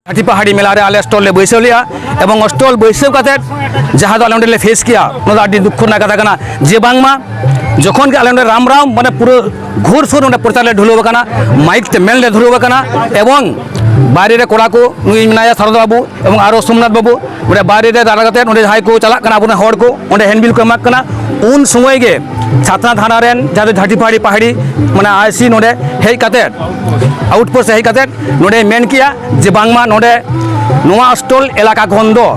ᱟᱹᱰᱤ ᱯᱟᱦᱟᱲᱤ ᱢᱮᱞᱟ ᱨᱮ ᱟᱞᱮ ᱥᱴᱚᱞ ᱞᱮ ᱵᱟᱹᱭᱥᱟᱹᱣ ᱞᱮᱜᱼᱟ ᱮᱵᱚᱝ ᱥᱴᱚᱞ ᱵᱟᱹᱭᱥᱟᱹᱣ ᱠᱟᱛᱮ ᱡᱟᱦᱟᱸ ᱫᱚ ᱟᱞᱮ ᱚᱸᱰᱮ ᱞᱮ ᱯᱷᱮᱥ ᱠᱮᱜᱼᱟ ᱚᱱᱟ ᱫᱚ ᱟᱹᱰᱤ ᱫᱩᱠᱷᱚ ᱨᱮᱱᱟᱜ ᱠᱟᱛᱷᱟ ᱠᱟᱱᱟ ᱡᱮ ᱵᱟᱝᱢᱟ ᱡᱚᱠᱷᱚᱱ ᱜᱮ ᱟᱞᱮ ᱚᱸᱰᱮ ᱨᱟᱢ ᱨᱟᱢ ᱢᱟᱱᱮ ᱯᱩᱨᱟᱹ ᱜᱷᱩᱨ ᱥᱩᱨ ᱚᱸᱰᱮ ᱯᱨᱚᱪᱟᱨ ᱞᱮ ᱰᱷᱩᱞᱟᱹᱣ ᱟᱠᱟᱱᱟ ᱢᱟᱭᱤᱠ ᱛᱮ ᱢᱮᱱ ᱞᱮ ᱫᱷᱩᱨᱟᱹᱣ ᱟᱠᱟᱱᱟ ᱮᱵᱚᱝ ᱵᱟᱭᱨᱮ ᱨᱮ ᱠᱚᱲᱟ ᱠᱚ ᱱᱩᱭ ᱢᱮᱱᱟᱭᱟ ᱥᱟᱨᱚᱫᱟ ᱵᱟᱹᱵᱩ ᱮᱵᱚᱝ ᱟᱨᱚ ᱥᱳᱢᱱᱟᱛᱷ ᱵᱟᱹᱵᱩ ᱚᱸᱰᱮ ᱵᱟᱭᱨᱮ ᱨᱮ ᱫᱟᱬᱟ ᱠᱟᱛᱮ ᱚᱸᱰᱮ ᱡᱟᱦᱟᱸᱭ ᱠᱚ ᱪᱟᱞᱟᱜ ᱠᱟᱱᱟ ᱟᱵᱚᱨᱮᱱ ᱦᱚᱲ ᱠᱚ ᱚᱸᱰᱮ ᱦᱮᱱᱰᱵᱤᱞ ᱠᱚ ᱮᱢᱟᱜ ᱠᱟᱱᱟ ᱩᱱ ᱥᱚᱢᱚᱭ ᱜᱮ ᱪᱷᱟᱛᱱᱟ ᱛᱷᱟᱱᱟ ᱨᱮᱱ ᱡᱟᱦᱟᱸ ᱫᱚ ᱡᱷᱟᱴᱤ ᱯᱟᱦᱟᱲᱤ ᱯᱟᱦᱟᱲᱤ ᱢᱟᱱᱮ ᱟᱭᱥᱤ ᱱᱚᱸᱰᱮ ᱦᱮᱡ ᱠᱟᱛᱮ ᱟᱣᱩᱴᱯᱳᱥᱴ ᱦᱮᱡ ᱠᱟᱛᱮ ᱱᱚᱰᱮ ᱢᱮᱱ ᱠᱮᱭᱟ ᱡᱮ ᱵᱟᱝᱢᱟ ᱱᱚᱰᱮ ᱱᱚᱣᱟ ᱚᱥᱴᱚᱞ ᱮᱞᱟᱠᱟ ᱠᱷᱚᱱ ᱫᱚ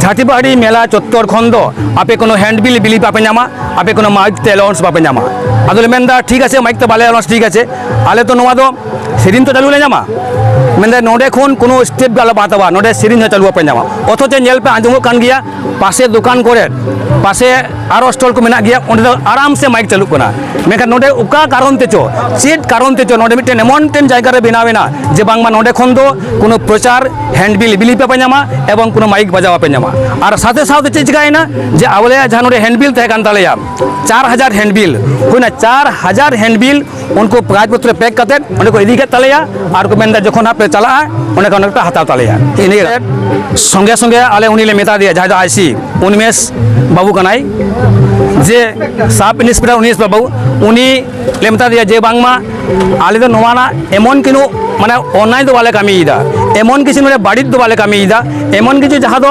ᱡᱷᱟᱴᱤᱵᱟᱦᱟᱨᱤ ᱢᱮᱞᱟ ᱪᱚᱛᱛᱚᱨ ᱠᱷᱚᱱ ᱫᱚ ᱟᱯᱮ ᱠᱳᱱᱳ ᱦᱮᱱᱰ ᱵᱤᱞ ᱵᱤᱞᱤ ᱵᱟᱯᱮ ᱧᱟᱢᱟ ᱟᱯᱮ ᱠᱳᱱᱳ ᱢᱟᱭᱤᱠ ᱛᱮ ᱮᱞᱟᱣᱩᱱᱥ ᱵᱟᱯᱮ ᱧᱟᱢᱟ ᱟᱫᱚᱞᱮ ᱢᱮᱱᱫᱟ ᱴᱷᱤᱠ ᱟᱪᱷᱮ ᱢᱟᱭᱤᱠ ᱛᱮ ᱵᱟᱞᱮ ᱮᱞᱟᱣᱩᱱᱥ ᱴᱷᱤᱠ ᱟᱪᱷᱮ ᱟᱞᱮ ᱛᱚ ᱱᱚᱣᱟ ᱫᱚ ᱥᱮᱨᱮᱧ ᱛᱚ ᱪᱟᱹᱞᱩ ᱞᱮ ᱧᱟᱢᱟ ᱢᱮᱱᱫᱟ ᱱᱚᱰᱮ ᱠᱷᱚᱱ ᱠᱳᱱᱳ ᱥᱴᱮᱯ ᱜᱮ ᱟᱞᱚᱯᱮ ᱦᱟᱛᱟᱣᱟ ᱱᱚᱰᱮ ᱥᱮᱨᱮᱧ ᱦᱚᱸ ᱪᱟᱹᱞᱩ ᱵᱟᱯᱮ ᱧᱟᱢᱟ ᱚᱛᱷᱚᱪᱚ ᱧᱮᱞ ᱯᱮ ᱟᱸᱡᱚᱢᱚᱜ ᱠᱟᱱ ᱜᱮᱭᱟ ᱯᱟᱥᱮ ᱫᱚᱠᱟᱱ ᱠᱚᱨᱮ ᱯᱟᱥᱮ ᱟᱨᱚ ᱥᱴᱚᱞ ᱠᱚ ᱢᱮᱱᱟᱜ ᱜᱮᱭᱟ ᱚᱸᱰᱮ ᱫᱚ ᱟᱨᱟᱢ ᱥᱮ ᱢᱟᱭᱤᱠ ᱪᱟᱹᱞᱩᱜ ᱠᱟᱱᱟ ᱢᱮᱱᱠᱷᱟᱱ ᱱᱚᱸᱰᱮ ᱚᱠᱟ ᱠᱟᱨᱚᱱ ᱛᱮᱪᱚ ᱪᱮᱫ ᱠᱟᱨᱚᱱ ᱛᱮᱪᱚ ᱱᱚᱸᱰᱮ ᱢᱤᱫᱴᱮᱱ ᱮᱢᱚᱱ ᱢᱤᱫᱴᱮᱱ ᱡᱟᱭᱜᱟ ᱨᱮ ᱵᱮᱱᱟᱣ ᱮᱱᱟ ᱡᱮ ᱵᱟᱝᱢᱟ ᱱᱚᱸᱰᱮ ᱠᱷᱚᱱ ᱫᱚ ᱠᱳᱱᱳ ᱯᱨᱚᱪᱟᱨ ᱦᱮᱱᱰᱵᱤᱞ ᱵᱤᱞᱤ ᱯᱮ ᱧᱟᱢᱟ ᱮᱵᱚᱝ ᱠᱳᱱᱳ ᱢᱟᱭᱤᱠ ᱵᱟᱡᱟᱣ ᱯᱮ ᱧᱟᱢᱟ ᱟᱨ ᱥᱟᱛᱷᱮ ᱥᱟᱶᱛᱮ ᱪᱮᱫ ᱪᱤᱠᱟᱭᱮᱱᱟ ᱡᱮ ᱟᱵᱚᱞᱮᱭᱟᱜ ᱡᱟᱦᱟᱸ ᱱᱚᱸᱰᱮ ᱦᱮᱱᱰᱵᱤᱞ ᱛᱟᱦᱮᱸ ᱠᱟᱱ ᱛᱟᱞᱮᱭᱟ ᱪᱟᱨ ᱦᱟᱡᱟᱨ ᱦᱮᱱᱰᱵᱤᱞ ᱦᱩᱭᱱᱟ ᱪᱟᱨ ᱦᱟᱡᱟᱨ ᱦᱮᱱᱰᱵᱤᱞ ᱩᱱᱠᱩ ᱯᱨᱟᱭᱤᱡᱽ ᱯᱚᱛᱨᱚ ᱯᱮᱠ ᱠᱟᱛᱮ ᱚᱸᱰᱮ ᱠᱚ ᱤᱫᱤ ᱠᱮᱫ ᱛᱟᱞᱮᱭᱟ ᱟᱨ ᱠᱚ ᱢᱮᱱᱫᱟ ᱡᱚᱠᱷᱚᱱ ᱦᱟᱸᱜ ᱯᱮ ᱪᱟᱞᱟᱜᱼᱟ ᱚᱸᱰᱮ ᱠᱷᱚᱱ ᱯᱮ ᱦᱟᱛᱟᱣ ᱛᱟᱞᱮᱭᱟ ᱤᱱᱟᱹ ᱥᱚᱸᱜᱮ ᱥᱚᱸᱜᱮ ᱟᱞᱮ ᱩᱱᱤ ᱞᱮ ᱢᱮᱛᱟ ᱫᱮᱭᱟ ᱡᱟᱦᱟᱸᱭ ᱫᱚ ᱟᱭᱥᱤ ᱩᱱᱢᱮᱥ ᱵᱟᱹᱵᱩ ᱠᱟᱱᱟᱭ ᱡᱮ ᱥᱟᱵ ᱤᱱᱥᱯᱮᱠᱴᱚᱨ ᱩᱱᱤᱥ ᱵᱟᱹᱵᱩ ᱩᱱᱤ ᱞᱮ ᱢᱮᱛᱟ ᱫᱮᱭᱟ ᱡᱮ ᱵᱟᱝᱢᱟ ᱟᱞᱮ ᱫᱚ ᱱᱚᱣᱟ ᱨᱮᱱᱟᱜ ᱮᱢᱚᱱ ᱠᱤᱱᱩ ᱢᱟᱱᱮ ᱚᱱᱞᱟᱭᱤᱱ ᱫᱚ ᱵᱟᱞᱮ ᱠᱟᱹᱢᱤᱭᱮᱫᱟ ᱮᱢᱚᱱ ᱠᱤᱪᱷᱩ ᱱᱚᱰᱮ ᱵᱟᱹᱲᱤᱡ ᱫᱚ ᱵᱟᱞᱮ ᱠᱟᱹᱢᱤᱭᱮᱫᱟ ᱮᱢᱚᱱ ᱠᱤᱪᱷᱩ ᱡᱟᱦᱟᱸ ᱫᱚ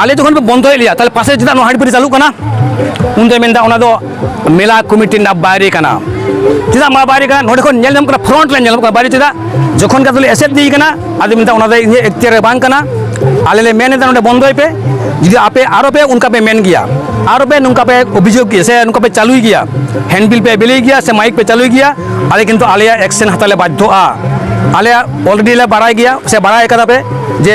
ᱟᱞᱮ ᱡᱚᱠᱷᱚᱱ ᱯᱮ ᱵᱚᱱᱫᱚᱭᱮᱫ ᱞᱮᱭᱟ ᱛᱟᱦᱚᱞᱮ ᱯᱟᱥᱮ ᱪᱮᱫᱟᱜ ᱱᱚᱣᱟ ᱦᱟᱺᱰᱤᱯᱟᱹᱨᱤ ᱪᱟᱹᱞᱩᱜ ᱠᱟᱱᱟ ᱩᱱ ᱫᱚᱭ ᱢᱮᱱᱫᱟ ᱚᱱᱟ ᱫᱚ ᱢᱮᱞᱟ ᱠᱚᱢᱤᱴᱤ ᱨᱮᱱᱟᱜ ᱵᱟᱭᱨᱮ ᱠᱟᱱᱟ ᱪᱮᱫᱟᱜ ᱢᱟ ᱵᱟᱭᱨᱮ ᱠᱟᱱᱟ ᱱᱚᱰᱮ ᱠᱷᱚᱱ ᱧᱮᱞ ᱧᱟᱢᱚᱜ ᱠᱟᱱᱟ ᱯᱷᱨᱚᱱᱴ ᱨᱮ ᱧᱮᱞᱚᱜ ᱠᱟᱱᱟ ᱵᱟᱭᱨᱮ ᱪᱮᱫᱟᱜ ᱡᱚᱠᱷᱚᱱ ᱜᱮ ᱟᱫᱚᱞᱮ ᱮᱥᱮᱫ ᱤᱫᱤᱭ ᱠᱟᱱᱟ ᱟᱫᱚ ᱢᱮᱱᱫᱟ ᱚᱱᱟ ᱫᱚ ᱤᱧᱟᱹᱜ ᱮᱠᱛᱤᱭᱟᱨ ᱨᱮ ᱵᱟᱝ ᱠᱟᱱᱟ ᱟᱞᱮ ᱞᱮ ᱢᱮᱱ ᱮᱫᱟ ᱱᱚᱰᱮ ᱵᱚᱱᱫᱚᱭ ᱯᱮ ᱡᱩᱫᱤ ᱟᱯᱮ ᱟᱨᱚ ᱯᱮ ᱚᱱᱠᱟ ᱯᱮ ᱢᱮᱱ ᱜᱮᱭᱟ ᱟᱨᱚ ᱯᱮ ᱱᱚᱝᱠᱟ ᱯᱮ ᱚᱵᱷᱤᱡᱳᱜᱽ ᱜᱮᱭᱟ ᱥᱮ ᱱᱚᱝᱠᱟ ᱯᱮ ᱪᱟᱹᱞᱩᱭ ᱜᱮᱭᱟ ᱦᱮᱱᱰᱵᱤᱞ ᱯᱮ ᱵᱮᱞᱮᱭ ᱜᱮᱭᱟ ᱥᱮ ᱢᱟᱭᱤᱠ ᱯᱮ ᱪᱟᱹᱞᱩᱭ ᱜᱮᱭᱟ ᱟᱞᱮ ᱠᱤᱱᱛᱩ ᱟᱞᱮᱭᱟᱜ ᱮᱠᱥᱮᱱ ᱦᱟᱛᱟᱣ ᱞᱮ ᱵᱟᱫᱽᱫᱷᱚᱜᱼᱟ ᱟᱞᱮᱭᱟᱜ ᱚᱞᱨᱮᱰᱤ ᱞᱮ ᱵᱟᱲᱟᱭ ᱜᱮᱭᱟ ᱥᱮ ᱵᱟᱲᱟᱭ ᱠᱟᱫᱟ ᱯᱮ ᱡᱮ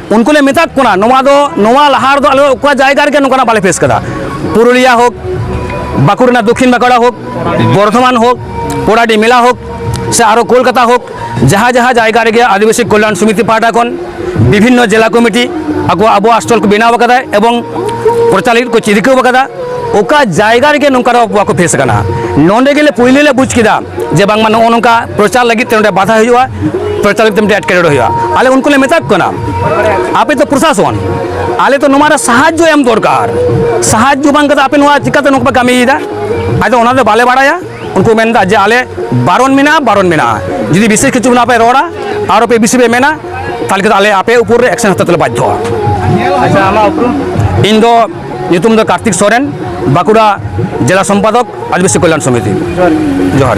ᱩᱱᱠᱩ ᱞᱮ ᱢᱮᱛᱟᱫ ᱠᱚᱱᱟ ᱱᱚᱣᱟ ᱫᱚ ᱱᱚᱣᱟ ᱞᱟᱦᱟ ᱨᱮᱫᱚ ᱟᱞᱮ ᱚᱠᱟ ᱡᱟᱭᱜᱟ ᱨᱮᱜᱮ ᱱᱚᱝᱠᱟᱱᱟᱜ ᱵᱟᱞᱮ ᱯᱷᱮᱥ ᱠᱟᱫᱟ ᱯᱩᱨᱩᱞᱤᱭᱟ ᱦᱳᱠ ᱵᱟᱸᱠᱩᱲ ᱨᱮᱱᱟᱜ ᱫᱚᱠᱷᱤᱱ ᱵᱟᱸᱠᱩᱲᱟ ᱦᱳᱠ ᱵᱚᱨᱫᱷᱚᱢᱟᱱ ᱦᱳᱠ ᱯᱚᱲᱟᱰᱤ ᱢᱮᱞᱟ ᱦᱳᱠ ᱥᱮ ᱟᱨᱚ ᱠᱳᱞᱠᱟᱛᱟ ᱦᱳᱠ ᱡᱟᱦᱟᱸ ᱡᱟᱦᱟᱸ ᱡᱟᱭᱜᱟ ᱨᱮᱜᱮ ᱟᱹᱫᱤᱵᱟᱹᱥᱤ ᱠᱚᱞᱭᱟᱱ ᱥᱚᱢᱤᱛᱤ ᱯᱟᱦᱴᱟ ᱠᱷᱚᱱ ᱵᱤᱵᱷᱤᱱᱱᱚ ᱡᱮᱞᱟ ᱠᱚᱢᱤᱴᱤ ᱟᱠᱚ ᱟᱵᱚᱣᱟᱜ ᱥᱴᱚᱞ ᱠᱚ ᱵᱮᱱᱟᱣ ᱟᱠᱟᱫᱟ ᱮᱵᱚᱝ ᱯᱨᱚᱪᱟᱨ ᱞᱟᱹᱜᱤᱫ ᱠᱚ ᱪᱤᱨᱠᱟᱹᱣ ᱟᱠᱟᱫᱟ ᱚᱠᱟ ᱡᱟᱭᱜᱟ ᱨᱮᱜᱮ ᱱᱚᱝᱠᱟᱱᱟᱜ ᱵᱟᱠᱚ ᱯᱷᱮᱥ ᱟᱠᱟᱱᱟ ᱱᱚᱰᱮ ᱜᱮᱞᱮ ᱯᱩᱭᱞᱩ ᱞᱮ ᱵᱩᱡᱽ ᱠᱮᱫᱟ ᱡᱮ ᱵᱟᱝᱢᱟ ᱱᱚᱜᱼᱚ ᱱᱚᱝᱠᱟ ᱯᱨᱚᱪᱟᱨ ᱞᱟᱹᱜᱤᱫ ᱛᱮ ᱱᱚᱰᱮ ᱵᱟᱫᱷᱟ ᱦᱩᱭᱩᱜᱼᱟ ᱯᱨᱚᱪᱟᱨ ᱞᱟᱹᱜᱤᱫ ᱛᱮ ᱢᱤᱫᱴᱮᱱ ᱮᱴᱠᱮᱴᱚᱬᱮ ᱦᱩᱭᱩᱜᱼᱟ ᱟᱞᱮ ᱩᱱᱠᱩ ᱞᱮ ᱢᱮᱛᱟ ᱠᱚ ᱠᱟᱱᱟ ᱟᱯᱮ ᱫᱚ ᱯᱨᱚᱥᱟᱥᱚᱱ ᱟᱞᱮ ᱫᱚ ᱱᱚᱣᱟ ᱨᱮ ᱥᱟᱦᱟᱡᱽᱡᱚ ᱮᱢ ᱫᱚᱨᱠᱟᱨ ᱥᱟᱦᱟᱡᱽᱡᱚ ᱵᱟᱝ ᱠᱟᱛᱮ ᱟᱯᱮ ᱱᱚᱣᱟ ᱪᱤᱠᱟᱹᱛᱮ ᱱᱚᱝᱠᱟ ᱯᱮ ᱠᱟᱹᱢᱤᱭᱮᱫᱟ ᱟᱫᱚ ᱚᱱᱟ ᱫᱚ ᱵᱟᱞᱮ ᱵᱟᱲᱟᱭᱟ ᱩᱱᱠᱩ ᱢᱮᱱᱫᱟ ᱡᱮ ᱟᱞᱮ ᱵᱟᱨᱚᱱ ᱢᱮᱱᱟᱜᱼᱟ ᱵᱟᱨᱚᱱ ᱢᱮᱱᱟᱜᱼᱟ ᱡᱩᱫᱤ ᱵᱤᱥᱮᱥ ᱠᱤᱪᱷᱩ ᱱᱟᱯᱮ ᱨᱚᱲᱟ ᱟᱨᱚ ᱯᱮ ᱵᱤᱥᱤ ᱯᱮ ᱢᱮᱱᱟ ᱛᱟᱦᱚᱞᱮ ᱟᱞᱮ ᱟᱯᱮ ᱩᱯᱚᱨ ᱨᱮ ᱮᱠᱥᱮᱱ ᱦᱟᱛᱟᱣ ᱛᱮᱞᱮ ᱵᱟᱫᱽᱫᱷᱚᱜᱼᱟ ᱤᱧ ᱫᱚ ᱧᱩᱛᱩᱢ ᱫᱚ ᱠᱟᱨᱛᱤᱠ ᱥᱚᱨᱮᱱ ᱵᱟᱸᱠᱩᱲᱟ ᱡᱮᱞᱟ ᱥᱚᱢᱯᱟᱫᱚᱠ ᱟᱹᱫᱤᱵᱟᱹᱥᱤ ᱠᱚᱞᱭᱟᱱ ᱥᱚᱢᱤᱛᱤ ᱡᱚᱦᱟᱨ